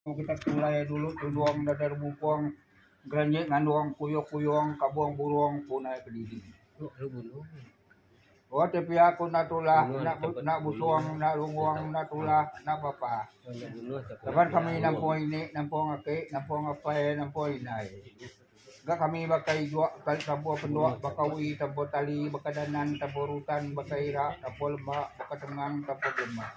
Kita pulai dulu tudung dada rebupong gerenye ngandong kuyong-kuyong kabong burong punai kediri. Oh te pia ku enda tulah enda enda busong enda lungong enda tulah enda apa-apa. Laban kami nampung ini nampung aki nampung apai nampung indai. Ga kami baka ijok kali kampung pendok baka wi tempo tali baka danan tempo rutan baka ira tempo lembak baka tengang tempo belembang.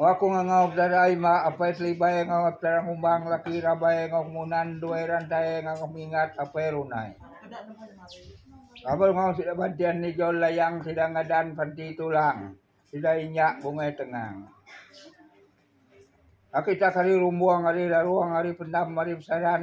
Wak aku ngangau petara ai ba apai telibai ngau petara ngumbang laki rabai ngau kemunan duai rantai ngau mingat apai runai. Laban ngau sida bantin ijol layang sida ngadan panti tulang sida inyak bungai tengang. Aku itak ari rumbong ari larong ari pendam ari besaran.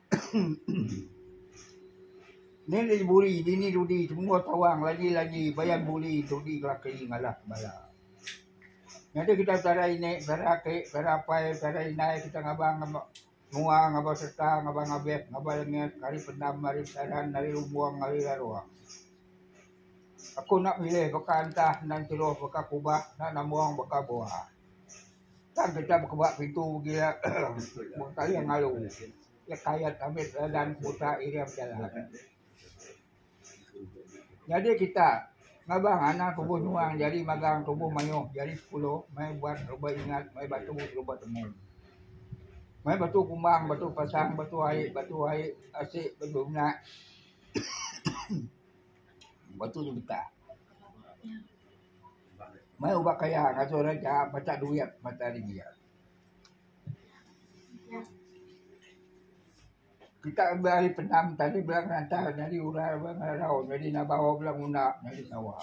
Ni le buri bini dudi semua tawang lagi lagi bayan buri dudi kelaki ngalah bala. Nyadi kita cara ini cara aki cara apai cara indai kita ngabang ngabang mua ngabang serta ngabang ngabek ngabang lengit hari pendam hari saran hari lumbuang hari laruang. Aku nak milih baka entah nan ceroh baka kubah nak nambong baka buah. Tang kita bekeba pitu ugi iya mung ka iya ngalu iya kayat abit regan buta iring bejalan. Nyadi kita ngaban anak tubuh nyuang jadi magang tubuh mayuh jadi sepuluh mai buat ruba ingat mai batu ruba temu. Mai batu kumbang batu pasang batu ai batu ai asik batu nya batu tu beta. Meh uba kaya ngasuh orang nya macha duit macha ari dia. Kita enda ari penam tadi bala ngelantah nyadi urai ba ngarau nyadi nabau bala nguna nyadi pengawa.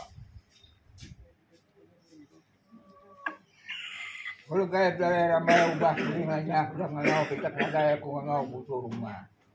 Kelu gai bala rambai ubah keli nganyah bala ngangau kitak nadai aku ngangau mutu rumah.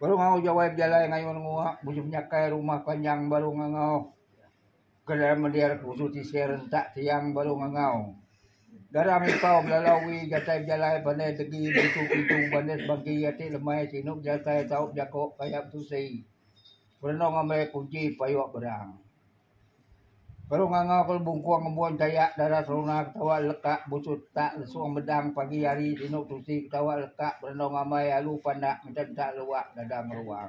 Baru ngau jawai bejalai ngayun ngua musim nyakai rumah panjang baru ngangau ke dalam mendir ke usu tisir rentak tiang baru ngangau garang impau belalau wi jatai bejalai pandai tegi berintu berintu bandar sebagi ati lemai sinu bejatai tau jako kaya betusi berenung ambai kunchi payok berang. Baru nganga ku lebungkong ngembuan dayak dara seruna ketawa leka buchut tak lesung medang pagi hari dinu tusi ketawa leka berendau ngamai alu pandak ngeden tak luak dada ngeruang.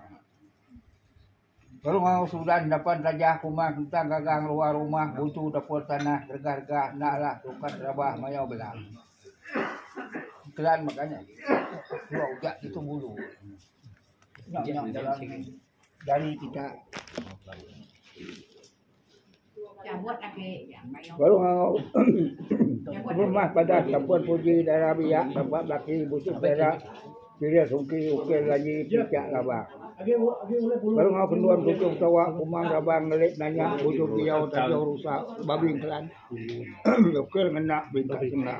Baru ngau sudan dapan tajah kumang tentang gagang luar rumah butu dapur tanah rega rega enda alah sukat rabah mayau bela. Kelan makanya. Ujak ditu bulu. Nya nya jalan. Jari kita. Cabut lagi. Baru ngau. Rumah pada tempat puji darah biak. Tempat belaki busuk darah. Kira sungki ukir lagi pijak labah. Baru ngau kenduan kucing tawa kumang rabang ngelit nanya busuk biau tajau rusak babi kelan. Ukir ngena bintang sengah.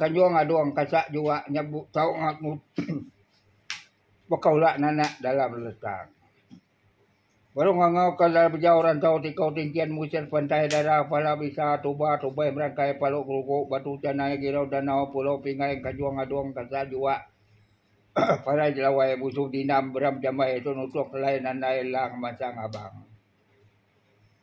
Kanjong adong kasa jua nya tau baka ula nanak dalam letang. Baru ngangau ka bejau rantau ti kau tingkin musik pantai dara pala bisa tuba tubai merangkai palu gelugu batu canai girau danau pulau pingai kanjong adong kasa jua parai jelawai musu dinam beram jamai tu nutuk lai nandai lang masang abang.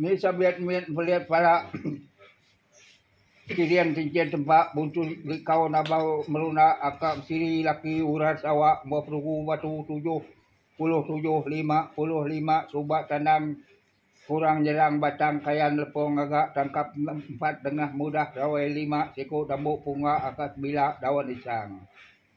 Mih sabit mit belit pala kiring kinchin tempa buntu likau nabau meruna aka siri laki uras awak bua perugu batu tujuh puluh tujuh lima puluh lima suba tanam kurang nyerang batang kayan lepong ngaga tangkap empat dengah mudah rawai lima siku dambu punga aka sebila daun isang.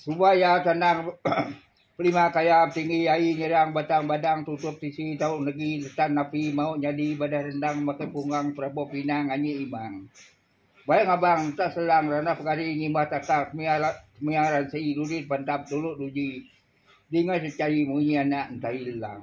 Suba iya tendang pelima kaya tinggi ai nyerang batang badang tutup tisi tau negi netan api mau nyadi badah rendang makai punggang perabok pinang anyi imang. Bai ngabang enta selang ranah pegari ngimbah takar kemia kemia ransi dudi dipantap dulu duji dinga secari munyi anak entail lang.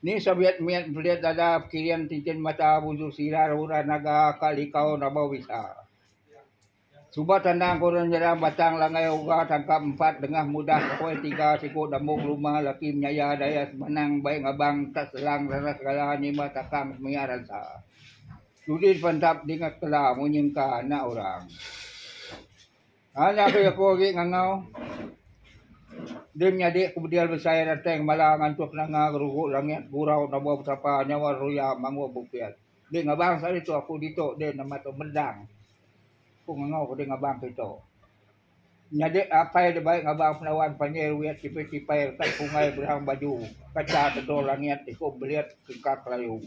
Ni Soviet mit belit dada pekiring tintin mata bujur sida udah naga ka likau nabau bisa. Suba tendang ku orang nyerang batang langai uga tangkap empat dengah mudah poi tiga siku dambung luma laki menyaya daya semenang bai ngabang tak selang reres gala nyimah takang mia ransa. Dudi pantap dingat kela munyi engka anak orang. Haa nya abis aku agi ngangau din nyadi ku bedil besai ranteng mala ngantuh kenanga gerugu langit gurau nobo betapa nyawa ruya mangu bukit di ngabang sari tu aku ditu din amat tu mendang ku ngangau ke di ngabang kitu nyadi apai da bai ngabang Pendawan pandir wit tipai tipai retak pungai berang baju kaca tedul langit iku belit kengkak layu.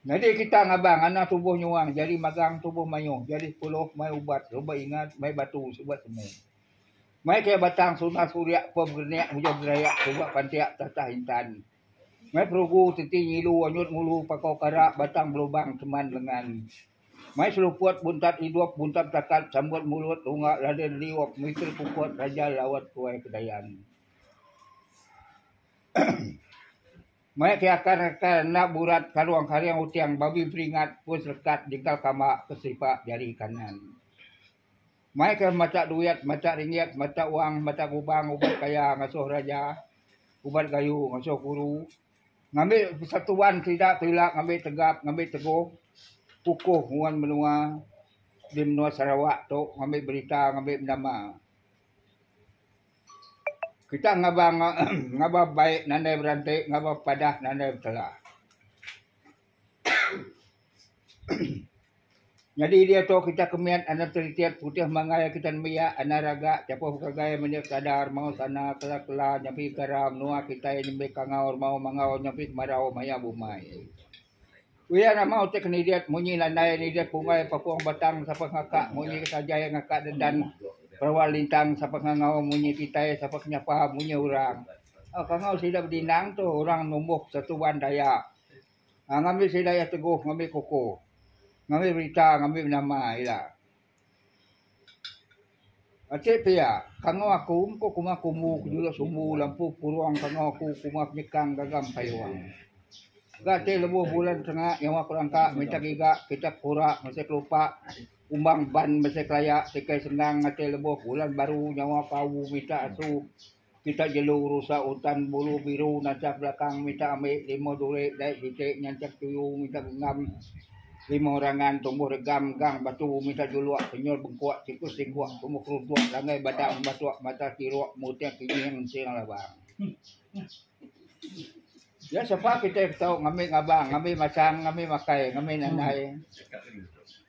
Nyadi kita ngaban anak tubuh nyuang jadi magang tubuh mayuh jadi puluh mai ubat suba ingat mai batu suba temu. Mai ke batang sungai suria pun berenek mujur berayak suba pantiak tatah intan. Mai perugu teti ngilu anyut ngulu pakau kara batang belubang keman lengan. Mai seluput buntat idup buntat betakat sambut mulut lunga laden liup mitir pukut rajal lawat tuai kedayan. Maya ti akar akar enda burat kalung karing uting babi peringat pun selekat jengkal kama ke selipak jari kanan. Mai ke matak duit, matak ringgit, matak wang, matak gubang, ubat kaya ngasuh raja, ubat gayu ngasuh guru, ngambi persatuan sida ke ila ngambi tegap, ngambi teguh, kukuh nguan menua di menua Sarawak tu ngambi berita, ngambi nama. Kita ngabar ngabar baik nadai beranti ngabar padah nadai betela. Nyadi diau tu kita kemit anak seritit putih mangai kita nembiak anak raga chapuh begagai menya kadar mau sana kela kela nyampi kara menua kitai nembi kangau remau mangau nyampi kemarau maya bumai. Uyan amau ti kenirit munyi nandai nirit punggai papung batang sapa ngakak munyi ketajai ngakak dedan perewa lintang sapa ngangau munyi kitai sapa kenyapa munyi orang. Pangau sida bedinang tu orang numbuh Persatuan Dayak ngambi sida iya teguh ngambi kukuh ngambi berita ngambi nama ila. Enti pia kangau aku empu kuma kumbu ku juluk sumbu lampu purong kangau aku kuma penyekang gagam kayuh. Ga ti lebuh bulan senga nyawa ku langka mita giga kitak kura masih kelupa umbang ban masih kelaya tikai senang ati lebuh bulan baru nyawa ku au mita asu Kita jelu rusak utan bulu biru nancap belakang minta ambi lima duri dai bitik nyancap tuyu minta genggam lima rangan tumbuh regam gang batu minta juluk penyul bengkuk tikus singkuk tumbuh keruntuk langgai badang batuk mata tiruk muting kejing ensing labang. Iya sepa kitai ke tau ngambi ngabang ngambi masang ngambi makai ngambi nandai.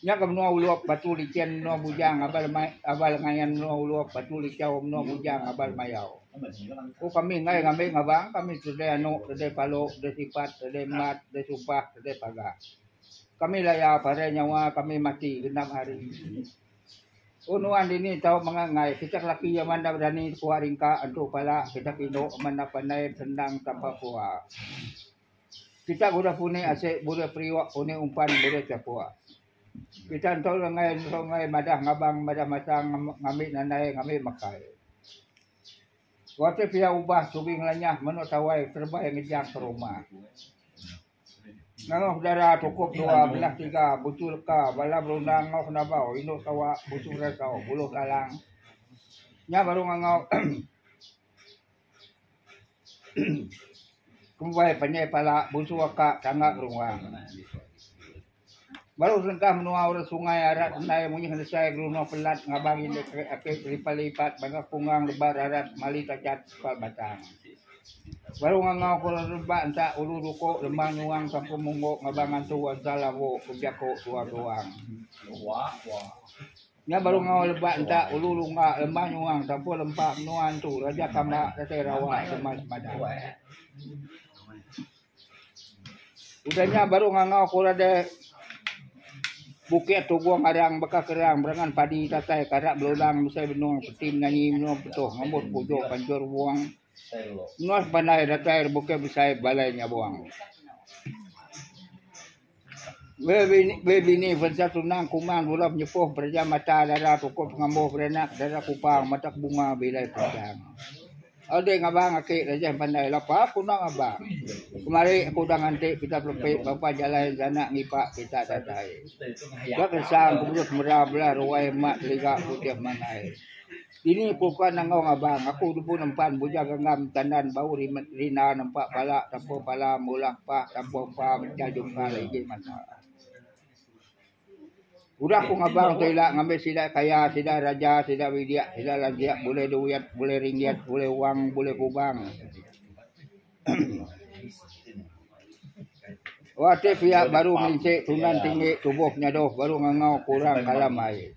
Nya ke menua Ulup, Batu Lichin, menua Bujang, Abal Abal Ngayan, menua Ulup, Batu Lichau, menua Bujang, Abal Mayau. Ku kami enggai ngambi ngabang, kami tedai anu, tedai palu, tedai sipat, tedai embat, tedai sumpah, tedai pagang. Kami laya parai nyawa kami mati genap hari. Ku nuan dini tau mengah enggai, kita ke laki amat enda berani tepua ringka, entu pala, kita ke indu amat enda pandai besendang tanpa pua. Kita guna puni asik bulih periuk puni umpan bulih chapuk. Kita entu lengai entu lengai madah ngabang madah masang ngambi nandai ngambi makai. Wang ti pia ubah sugi ngelanyah menu tawai terebai ngejang ke rumah. Nengah udara tukup dua belah tiga buchu leka bala berundang enggau kenabau indu sawa buchu berasau buluh lalang nya baru ngangau Kumbai panjai pala busu aka tangga gerungang. Baru serengkah menua orang sungai arat tendai munyi nesai gerunong pelat ngabang indu ake kelipat lipat baka kungang lebat arat mali tachat kepal batang. Baru ngangau ke orang rebak enta ulu duko lema nyuang kampung munggo ngabang antu ensal lawo ke jako tuang tuang. Nya baru ngau lebak entak ulu lunggak lembah nuang tampur lempa menua entu raja kambak datai rawa sema semadan. Udah nya baru ngangau ku rada bukit tugung arang baka kerang berangan padi tatai karak belodang besai benung peti menanyi menua petuh ngambut pujuk panjur buang menua sepandai datai bukit besai balai nyabung. Wei bini vensa tunang kuman bula penyepuh bereja mata dara pokok pengambuh beranak dara kupang matak bunga bilai panjang. Alai ngabang aki rejeh pandai lapa ku nang abang. Kemari aku udah nganti pita pelepi bapa jalai jana ngipak pita datai. Ba kensang ku mudip mera bela ruai mak teliga ku tiap mangai. Dini ku ka nangong abang aku nubu nempan bujang genggam tandan bau rimet rina nempa pala tampung pala meulah pak tampung pa mechal jungkal igi mata. Udah ku ngabang tu ila ngambi sida kaya sida raja sida bidik sida lanjik bulih duit bulih ringgit bulih wang bulih kubang. Wah ti pia baru merintik tunan tinggi tubuh nyadoh baru ngangau kurang kalam ai.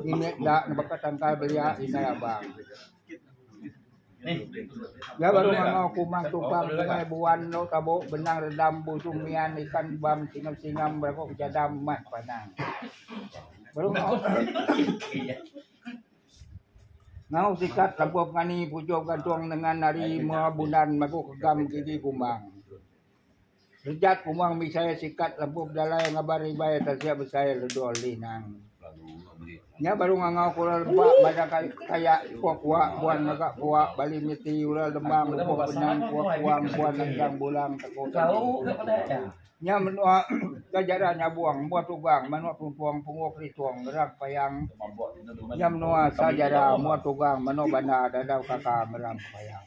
Ini enda nebaka tangkai belia indai abang. Iya baru ngangau kuman tubang sungai buan endur tabu benang redam busu mian ikan bam singam singam berago bejadam mat panang. Baru ngangau. Ngau sikat lampu pengani pujuk gantung nengan nari mua bunan magu kegam gigi kumbang. Rejat pemang Bisaya sikat lebuh bejalai ngabar ibai tansik besai ledu Lee Nang. Nya baru ngangau ke orang lempa madah kaya Pua Kua buan ngaga kua bali miti orang lembang lebuh benang Pua Kua buan nendang bulang teku tadi. Nya menua ke jaran nyabong embuh tugang manuk tumpong penguk litung ngerang payang. Nya menua sa jara embuh tugang manuk bandar dadau kaka ngerang payang.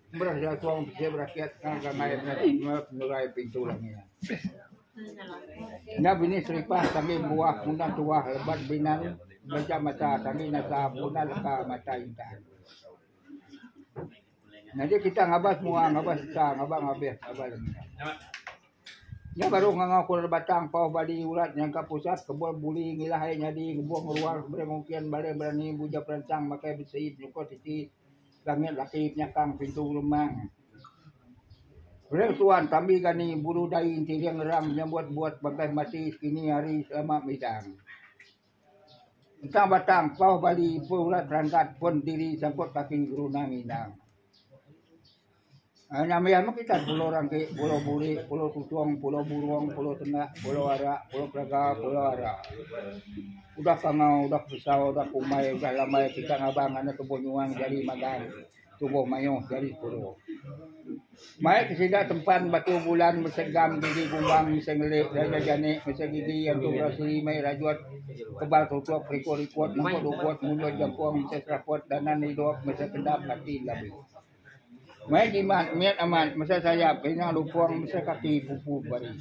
Murah jaku bisi berakyat tang ramai nengah pengerai pintu langi. Nya bini seripah kami buah punah tuah lebat binan beja mata kami nasa punah leka mata intan. Nyadi kita ngabas mua ngabas sesa ngabas ngabih ngabas lemi. Nya baru ngangau kul batang pau bali urat nyangka pusat kebul buli ngilah ai nyadi ngebuh ngeruar keberi mungkin balik berani buja peransang makai besi nyukut iti Langit laki penyakang pintu rumah. Ring tuan tambi gani bulu dai enti ring ngerang menyambut buat bagas mati sekini hari selama midang. Entang batang pauh bali pun urat ranggat pun diri sangkut kaki geruna ngindang. Nama iya meh kitai Pulau Rangki, Pulau Buri, Pulau Tutung, Pulau Burong, Pulau Tendak, Pulau Ara, Pulau Pelaga, Pulau Ara. Udah ke angau, udah ke pesau, udah ke umai, udah lambai kitai ngabang ngagai tubuh nyuang jari magang, tubuh mayuh jari puru. Mai ke sida tempan batu bulan mesai gam gigi gumbang mesai ngelik dada janik mesai gigi antu berasi mai rajut kebal tutup riku-rikut nengkut ugut munyut jangkung mesai seraput danan idup mesai kendap ati labi. Mai jimat mit amat mesai sayap keringa lupong mesai kaki pupu bari.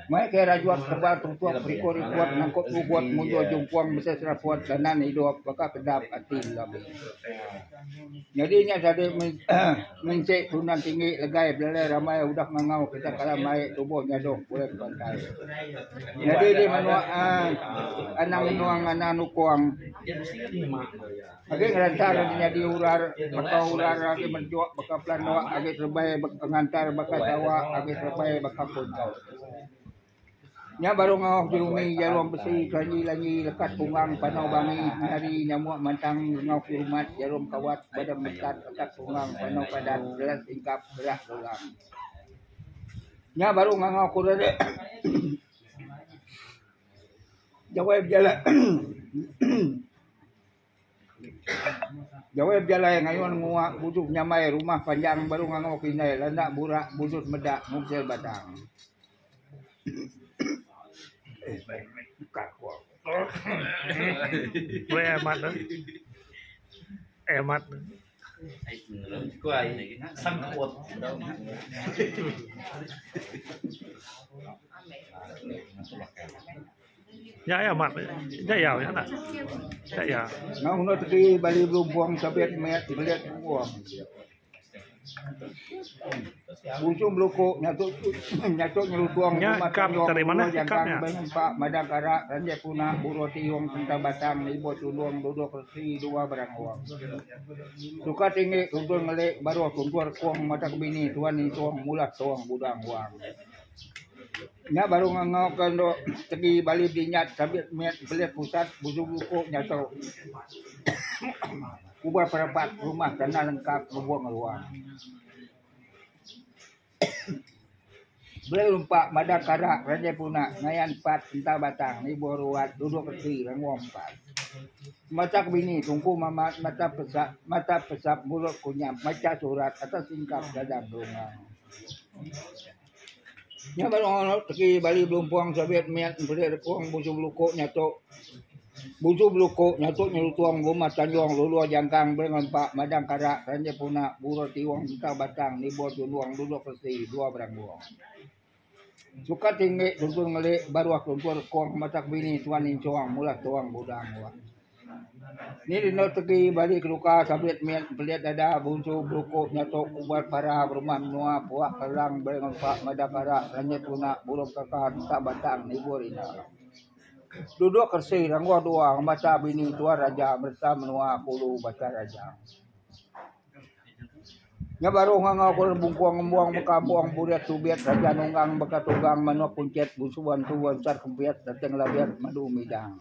Mai kai rajuot tebal tutup rikut rikut nangkup gugut mujur jumpung mesai seraput ganan idup baka kedap ati labi. Nyadi nya sadi menti kelunan tinggi legai belalai ramai udah ngangau kita kala mai tubuh nyadoh pulai ke pantai. Nyadi di menua anang menua ngana nukong. Agi ngerantar agi nyadi urar baka urar agi menjuk baka pelanduk agi serebai ngerantar baka sawa agi serebai baka punchau. Nya baru ngauh Jerumi Jarum Besi Kelanji Lanji Lekat Punggang Panau Bangi Penari Nyamuk Mantang Rengau Kirumat Jarum Kawat Badang Metat Lekat Punggang Panau Padat Gelas Ingkap Gerak Gelang Nya baru ngangau kuran dia Jawai Bejala Jawai bejalai ngayun ngua bujung nyamai rumah panjang baru ngangau ke indai landa burak bujut meda mungsil batang. Nya iya mak nya iya nya nah. Nya iya. Ngau enggau tadi bali berubung sabit met belit berubung. Bujung beluku nyatu nyatu nyelutung nya kap dari mana kap nya. Pak madang karak ranjai puna buruh tiung tentang batang ibu tulung duduk resi dua barang uang. Suka tinggi tuntun ngelik baruh tuntun kong mata kebini tuan ni tuang mulah tuang budang uang. Nya baru nganga ke endo tegi bali dinyat sabit met pelih pusat bujung luko nya tu. Kubah perebat rumah tana lengka lubong ngeluar. Beli rumpa mada kara raja puna ngayan pat entah batang ibuh ruat dudok reti rengom empat. Matak bini tungku mama mata pesak mata pesap mulut kunyap macha surat atas tingkap dadang dongeng. Nya bala orang tegi bali belumpung sabit mian peli rekung busu beluku nya tu. Busu beluku nya tu nyelutong rumah tanjung lulur jangkang bela ngempa madang kara kereja puna burur tiung entang batang nibur tulung duduk resi dua beranggung. Suka tinggi tuntung ngeli baruh tuntung rekung matak bini tuan inchong mula tuang budang. Ni dina tegi bali keluka sabit mit belit dada bunsu beluku nyatuk ubat para berumah menua puak kerelang beri ngempa meda kara renyit guna burung kaka entap batang nibur ina. Duduk kersi ranggoh dua ngemata bini tuan raja mereta menua kulu Batang Raja. Nya baru ngangau ke bungkung embuang ba kampung burit tubit Raja Nunggang baka tunggang manuk kuntit bunsu bantu ansat kempit datai ngelabit madu midang.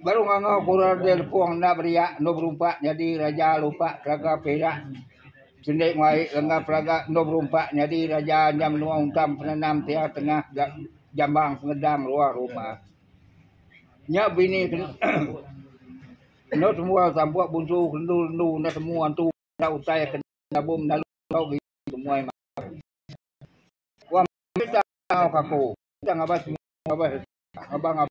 Baru ngangau kura dei lepong enda beriak endu berumpak nyadi raja lumpak telaga perak sendi ngau ai lengah pelaga endu berumpak nyadi raja nya menua ungkam penenam tia tengah ga jambang penedang luar rumah. Nya bini ke endu semua sampuk bunsu kendu endu enda temu antu enda utai ke nyabung dalau ke temui meh. Wang serita ngau ka aku serita ngabas semua ngabas ngabang.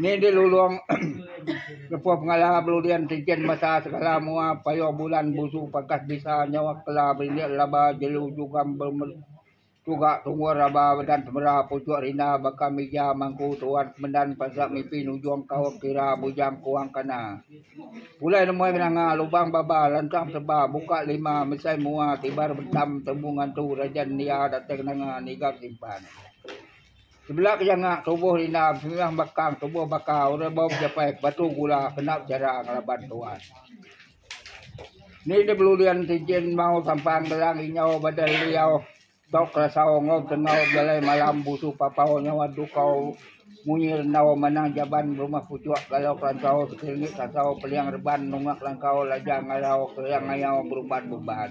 Ni di lulong lebuh pengala beludian tijen masa segala mua payuh bulan busu pakas bisa nyawa kela berindik laba jelu jugam bemet tuga tungur raba medan temera puchuk rindar baka mija mangku tuan kemendan paza mipi nujung kaum kira bujang kuang kana. Pulai nemoi nanga lubang baba lantang seba buka lima mesai mua tibar betam tembu ngantu rajan nia dateng nanga niga simpan. Sebela ke janga tubuh Linda besembiah bakang tubuh baka orang bau bejapai ke batu gula kena bejara ngelaban tuan. Ni de beludian tijin mau sampang gelang inyau badai liau tok kelasau ngau betengau bejalai malam busu papau nyawa dukau munyi rendau manang jaban berumah puchok galau kelansau sekelingi kelansau peliang reban nunga kelangkau lajang ngarau keriang ngayau beruban beban.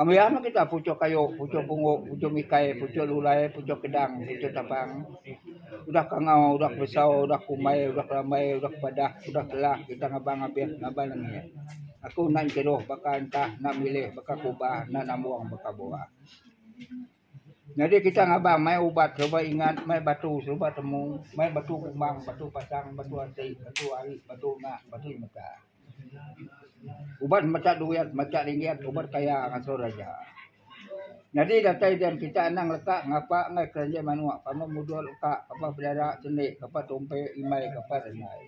Ambiar meh kita puchok kayu, puchok pungok, puchok mikai, puchok lulai, puchok kedang, puchok tapang. Udah kangau, udah besau, udah kumbai, udah kerambai, udah kepadah, udah telah kita ngabang abih ngaban angi. Aku enda ngeteroh baka entah enda milih baka kubah enda nambong baka bua. Nyadi kita ngaban mai ubat suba ingat mai batu suba temu mai batu kumbang batu pasang batu ati batu ari batu enda batu mega. Uban mega duit mega ringgit uban kaya ngatur aja. Nyadi datai den kita anang leka ngapa ngai kereja manok pama mudok leka pama bedara seni pama tumpi imai pama rengai.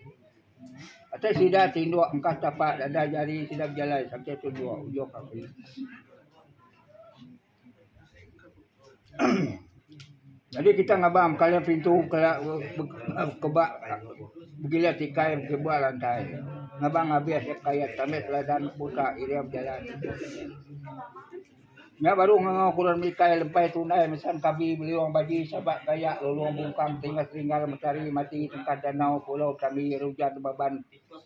Atai sida ti ndok engkas tapak dada jari sida bejalai sakai tunjok ujok ati. Jadi kita ngaban kala pintu kala keba bila tikai keba lantai ngaban abih asa kaya tanda teladan buta iria bejalan. Nya baru ngangau ke orang mikai lepai tunai mesan kabi beliung bagi sabak gayak lulung bungkang tinggal tinggal mentari mati tengkah danau pulau kami rujan baban.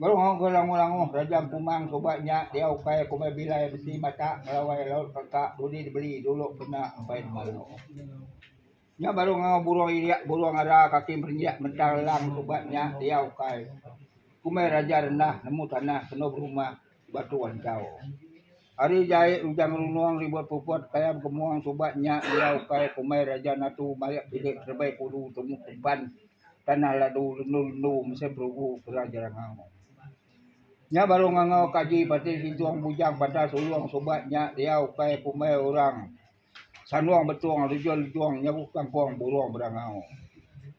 Baru ngau ke langoh-langoh Raja Empumbang suba nya diau ukai kumbai bilai besi bata ngelawai laut reka dudi dibeli dulu kena empai dema dulu. Nya baru ngau burung ilia burung ara kaki merinjak mentang lang suba nya diau ukai kumbai raja rendah nemu tanah kenu berumah. Batu Anjau. Ari jai Rujang Runong ribut puput Kayam Kemuang suba nya iya ukai kumai Raja Natu marik bilik terebai pulu temu Kemban Tanah Ladu lendu-lendu mesai perugu kera Jerangau. Nya baru ngangau Kaji Pati Sintung Bujang Pantas Ulong suba nya iya ukai kumai orang Sanong Betong lejong-lejong nyagu kangkong Burong Berangau.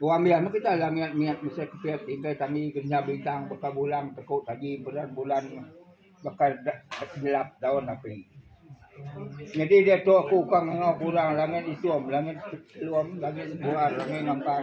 Orang biak meh kita langit mit mesai kepit tingkai kami kenyah bintang baka bulang teku tadi beran bulan baka nyelap daun api. Nyadi diatu aku ka ngau ku orang langit itum langit telum langit buar langit ngampar.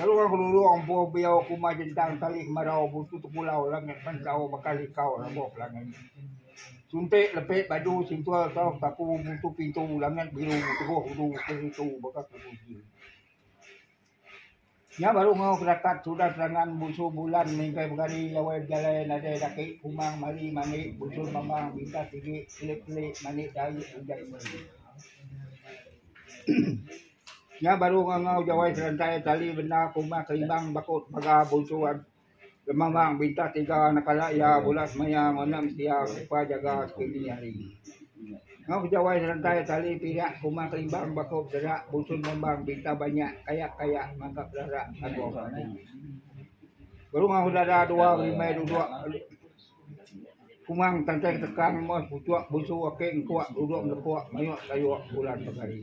Lalu orang Kelulu empu Biau Kuma Jentang Tali Kemarau Butu Tekulau Langit Mendau Mekah Likau Rambau Pelangi Suntik Lepit Badu Sintual Tau Taku Butu Pintu Langit Biru Teguh Hudu Keritu Baka Kukuji Nya baru ngau kedakat sudah serangan bunsu bulan mingkai begari lawai bejalai nadai daki kumang mari mandi bunsu mamang bintang sigi kelip-kelip mandi dai ujan meri. Nya baru ngangau jawai serentai tali bendar kumah kelimbang bakut paga bunsu an lemamang bintah tiga anak kala iya bula semaya ngonem sia upa jaga sekini hari. Ngau jawai serentai tali pirak kumah kelimbang bakut serak busun mambang bintah banyak kayak kayak mangkak belarak ago padi. Baru ngau dara dua berimbai duduk kumang tantang tekang moh pucuk bunsu ake engkuk duduk melekuk mayuh sayuk bulan pegari.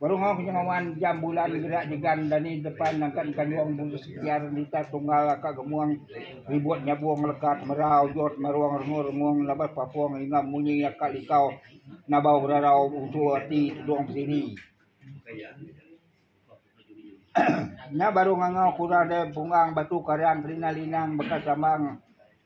Berungoh nya wan jam bulan gerak jegan dani depan nangkat kanjong bulu sekiar liter tunggal aka gemung ribut nyabung lekat mera ujut merung rengung-rengung laban papung enggau munyi aka likau nabau gerarau usu ati tudung bediri. Nya baru ngangau kura dei punggang batu karang kerina linang baka sambang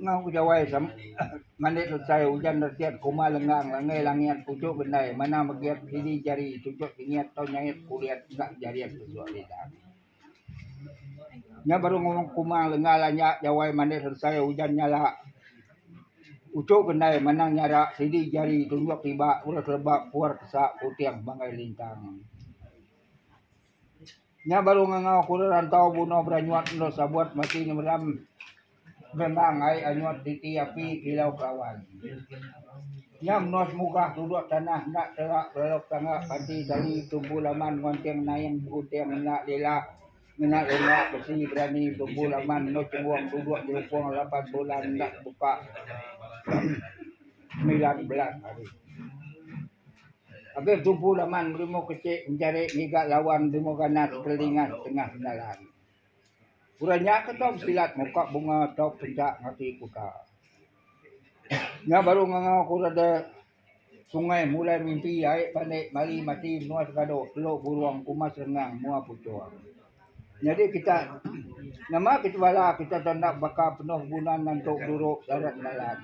Enggau udah wai malik selesai ujan retiap kuma lenggang langgai langit puchok bendai manah megiat sidi jari tuchok singit tau nyait kulit enda jarit tuchok lidah. Nya baru ngumang kuma lenga lanya jawai malik selesai ujan nyala puchok bendai manah nyara sidi jari tunjok tiba udah keleba puar kesa puting banggai lintang. Nya baru ngangau aku orang rantau bunoh beranyut endur sabut mati nyemeram benang ai anyut diti api kilau kelawan. Nya menoh semugah duduk tanah enda tera belalau ketangga panti tali tumpu laman ngonting naing begunting enda lila ngena longga besi berani tumpu laman menoh chengung duduk nyelupong lapan bulan enda tebuka semilan belas hari. Agi tubu laman Belimau Kecik menjari ngiga lawan Belimau Ganas Kelingan Tengah Bendalai. Orang nya ke tau besilat muka bunga tau penca ngati kuta. Nya baru ngangau ku reda sungai mulai mimpi ai panik mari mati menua segado telu burung kumas rengang mua puchung. Nyadi kita nama kita bala kita tau enda baka penuh guna ngantu duru darat dalan.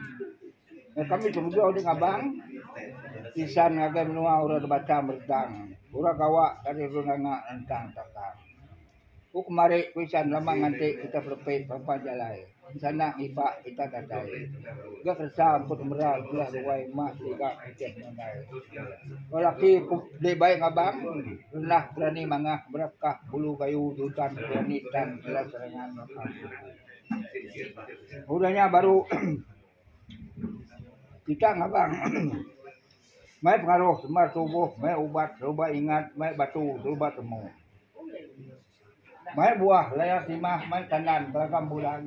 Kami ke mega udah ngabang insan ngagai menua orang da batang merentang orang gawa ari orang nganga rentang takang. Ku kemari ku insan lama nganti kita pelepit pampat jalai sanda ngipa pita datai ga keresa emput mera bela ruai emah siga putih mandai. Orang laki ku deh baik ngabang rendah berani mangah berat kah bulu kayu jutan berani tan jelas serangan. Udah nya baru. Kita ngabang mai pengaruh sumbar tubuh mai ubat suba ingat mai batu suba temu mai buah laya timah mai tandan belakang bulan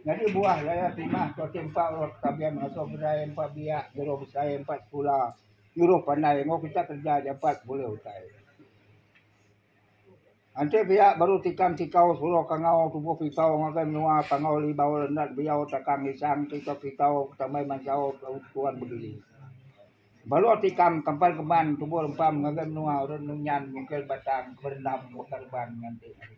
nyadi buah laya timah tu ati empa orang ke taben ngatur kedai empa biak nyuruh besai empa sekula nyuruh pandai mun kita kerja jampat bulih utai. Enti pia baru tikam tikau suruh kangau tubuh kitau ngagai menua tangau libau rendat biau takang isang kita kitau tamai mansau tuan begili. Baru tikam tempat keman tubuh rempam ngagai menua orang nunyan mungkin batang berendam baka reban nganti hari.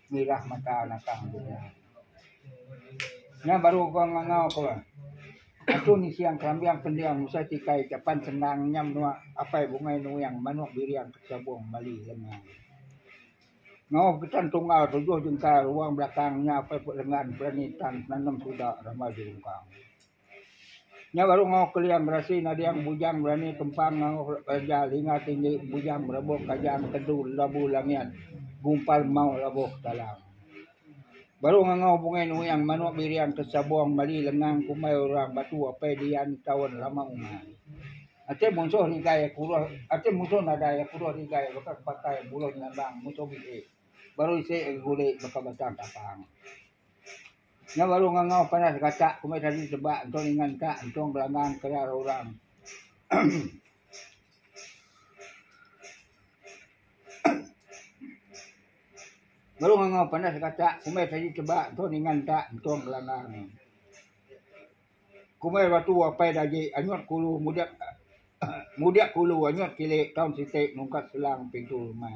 Mirah mata nakang tu nya. Nya baru uga ngangau ku Aku ni siang kerambing pending usa tikai ke pan sendang nya menua Apai Bungai Nuing manuk biring ke Chabong Mali lenga. Ngau getan tunggal tujuh jengkal ruang belakang nya Apai Put Lengan berani tan penanem suda rama jerungkang. Nya baru ngau keliang gerasi nading bujang berani kempang ngau reja linga tinggi bujang berebok kaja empedu labu langian gumpal mau labu talang. Baru ngau bungai nuyang manok birian ke sabong mali lengang kumbai orang batu apai dian taun lama uma. Ati munsuh nigai kuruh ati munsuh nadai kuruh nigai baka pakai buluh nyabang munsuh bisi baru isi guli baka batang tapang. Nya baru ngangau panas gatak ku meh tadi tebak entung ninga entak entung belanggang kelar orang. Baru ngangau panas gatak ku meh tadi tebak entung ninga entak entung belanggang. Ku meh batu apai dagi anyut kulu mudip mudip kulu anyut kilik taun siti nungkat selang pintu rumah.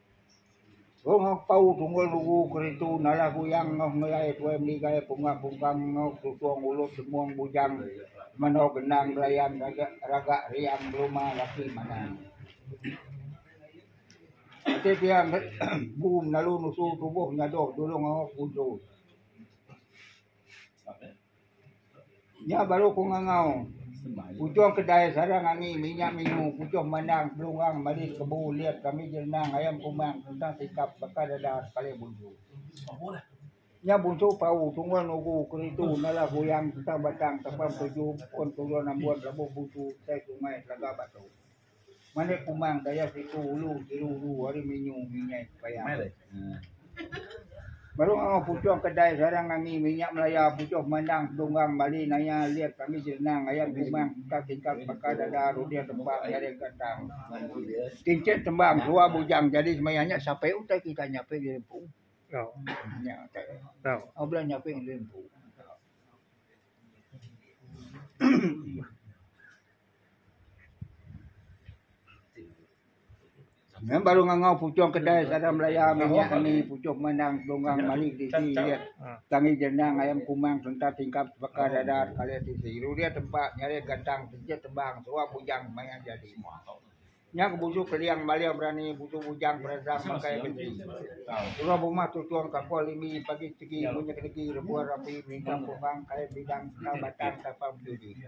Long Ampau Tunggul Lugu Keritu Nalah Guyang Noh Ngelai Tuai Meligai Punga Pungkang Noh Susung Ulut Semung Bujang Menoh Genang Belayan Ragak Riang Beluma Laki Manah Ati Pia Empu Menalu Nusu Tubuh Nyadoh Julung Aok Busu. Nya baru aku ngangau puchung kedai sarang angi minya mingu puchung mandang pelurang malis kebu ulit kami jerenang ayam kumang kentang sikap baka dada sekali bunsu. Nya bunsu pau tungul nugu keritu nala kuyang kentang batang tapang tuju pun turun ambun lebuh bunsu utai sungai telaga batu. Malik kumang daya siku ulu siru ulu ari minyu minyak payah. Baru ngau pucuh kedai sarang ngangi minyak melaya pucuh mandang tunggang bali naya lit kami jenang ayam kumang tingkat tingkat baka dada rudir tembang nyari gatang. Kincit tembang tua bujang jadi semaya nya sape utai kita nyape di empu. Nya utai. Au bela nyape di empu. Nang baru ngangau puchung kedai sarang belaya minyak ngeni puchung pemandang Telungang mali ti isi iya tang ija endang ayam kumang sereta tingkap sebaka dadar kali ti isi ru dia tempa nyarik gantang sijil tebang suah bujang maya jadi mua. Nya ke busu Keliang Malia Berani busu bujang peransang makai besi. Suah bumah tuchung kampung limi pagi sigi munyi kedegi rebuh rapi merintam pemang kai bidang ka batang tapang bejudi.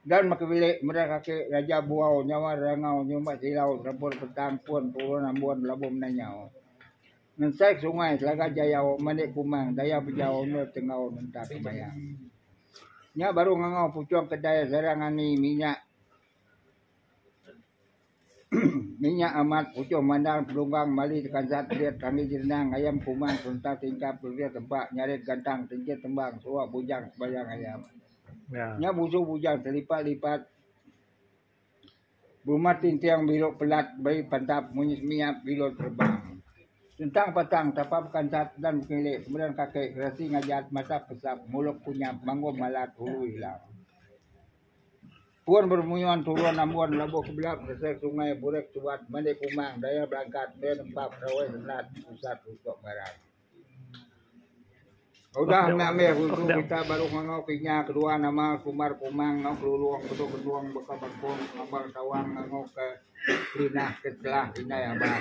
Gan baka bilik meda kaki raja buau nyawar rangau nyumbat silau serempun petang pun turun ambun belabuh mendai nyau. Ngensai sungai Telaga Jayau mani kumang daya bejau endur tenggau nentap sembayang. Nya baru ngangau puchung kedai serang angi minyak. Nya amat, puchung mandang, pelunggong, mali tekansat, perit, rami jerenang, ngayam kuman, serenta tingkap, perit, rebak, nyarit gantang, tenjit tembang, seruak bujang, sebayang ayam. Nya busu bujang telipat-lipat, berumat tinting, biluk pelat, beri pantap, munyi semiap, bilun terbang. Sentang patang, tapa bekansat, dan bekelik, kemeran kaki, gerasi ngajat, mata pesap, muluk kunyap, manggung malat, ulu ilang. Pun beremuyun turun ambun labuh ke belap ngesai sungai Burik Subat mende Kumang daya belangkat meh nempa Perawai Sendat pusat Rusok Barat. Udah nya meh usu kita baru ngangau ke inya kedua nama Kumar Kumang enggau Kelulong Bedok Bendong baka bakung ngambang tawang ngangau ke Kelinah ke Kelah Indai Abang.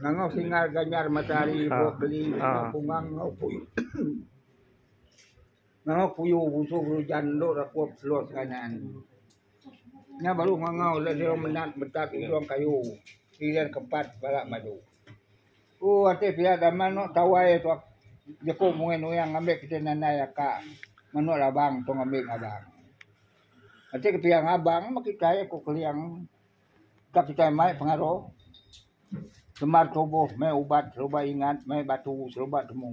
Ngangau Singar Ganyar Matahari Ibuh Keli Kumang enggau Puyuh. Nganga puyu busu gerujan endo rakup seluruh seranan. Nya baru nganga udah diriu menat betat ujung kayu pilian keempat bala madu. Ku ati pia dama eno tawai tuak jeku mungin nuing ngambi kitai nandai aka menu labang tu ngambi ngabang. Ati ke pia ngabang meh kitai ku Keling. Ka kitai mai pengaruh semar tubuh meh ubat seruba ingat meh batu seruba temu.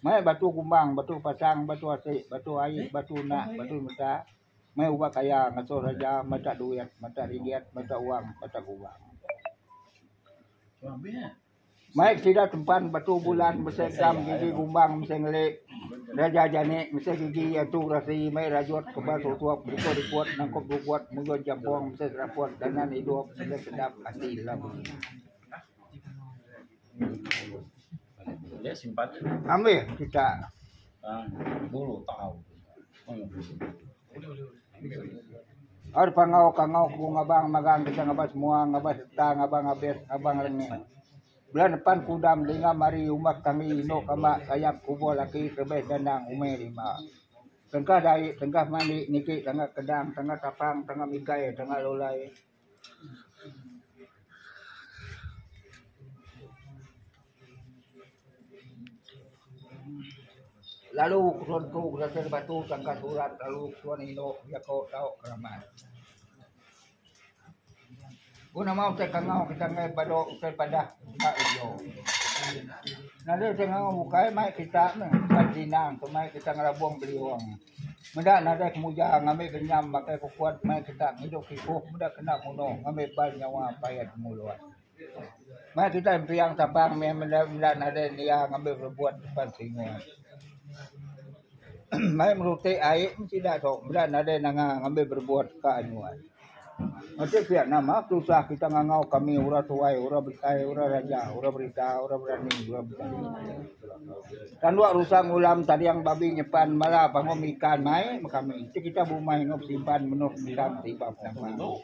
Meh batu kumbang batu pasang batu asik batu ai batu nak batu meta meh ubat kaya ngesu reja meta duit meta ringgit meta wang meta gubang. Mai sida tempan batu bulan mese gam gigi gumbang mese ngeli reja jani mese gigi iya tu rasi mai rajut kebal tutup berikut ikut nangkup dukut mugun jampung mese seraput dangan idup mese sedap ati lem. Ambih kita. Ari pangau ka ngau ku ngabang magang deka ngabas mua ngabas reta ngabang abis ngabang rengit. Bela nepan kudam dingam ari umbas kami indu kamba sayap kubur laki kelebih gandang umai lima. Tengkah dai tengkah mandi niki tangga kedang tangga tapang tangga mikai tangga lulai. Lalu ketuan ku berasai nda batu sangka surat lalu ketuan indu jako tau keramat. Ku nama utai kangau kita enggai badu utai padah enda ujo. Nadai utai kangau bukai mai kita meh ka jinang tu mai kita ngelabong beliung. Meda nadai kemuja ngambi genyam makai ke kuat meh kita ngidup ibuh meda kena muno ngambi bai nyawa paya temulun. Meh kita empiang tapang meh meda nadai nia ngambi rebut depan singuh. Meh meruti ai meh sida tu meda nadai nanga ngambi berebut ka nuan. Macha pia nama tusah kita ngangau kami orang tuai, orang besai, orang raja, orang berita, orang berani, orang besai. Tanduk rusa ngulam tading babi nyepan bala pangum ikan mai meh kami. Ti kita bumai enggau besimpan menoh mendam ti iban penama.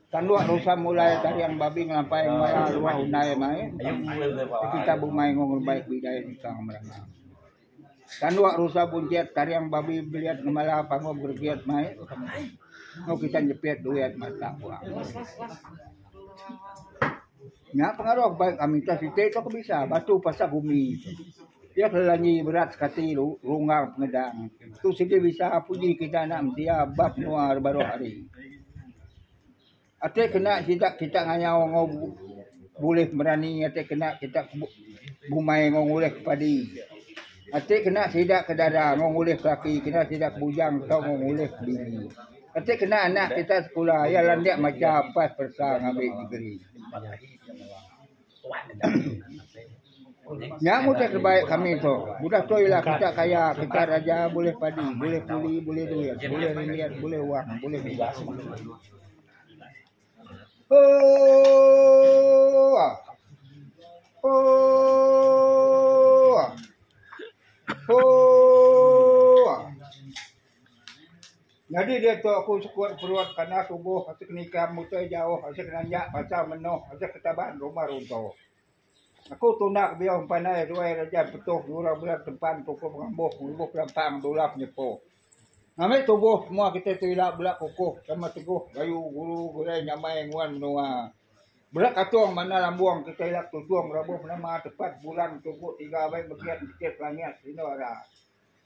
Tanduk rusa mulai tading babi ngelampai bala luah undai mai meh kami. Ti kita bumai enggau ngelumbai ke bidai nikang merana. Tanduak rusa buncit tariang babi belit ngemala pangup gergit mai enggau kitai nyepit duit matak puak. Nya pengaruh ba kami tu siti tu ke bisa batu pasak bumi tu. Iya ke langi berat sekati ru runggang penedang. Tu siti bisa puji kitai anak mensia ba menua baruh ari. Ati kena sida kita ngayau enggau bulih berani ati kena kita bumai enggau ngulih ke padi. Ati kena sida ke dara enggau ngulih ke laki kena sida ke bujang tau enggau ngulih ke bini. Ati kena anak kita sekula iya landik macha pas peresa ngambi degree. Nya mutar tebaik kami tu. Udah tu ila kita kaya, kita raja, bulih padi, bulih puli, bulih duit, bulih ringgit, bulih wang, bulih bidang. Hooooooa. Hooooooa. Hooooooa. Nyadi diatu aku sekut perut panas uguh asik nikam utai jauh asik nanjak pasang menoh asik ketaban rumah runto. Aku tundak biau empanai ruai rejat petuh ngurang bela tempan pukuh pengambuh ngubuk lampang dulap nyepo. Ngambi tubuh semua kitai tu ila bela kukuh sama teguh bayu guru gulai nyamai nguan menua. Bela katung manah lambung kitai ila tutung rabuh nama tepat bulan tuku tiga abai mekit mekit langit sinu ara.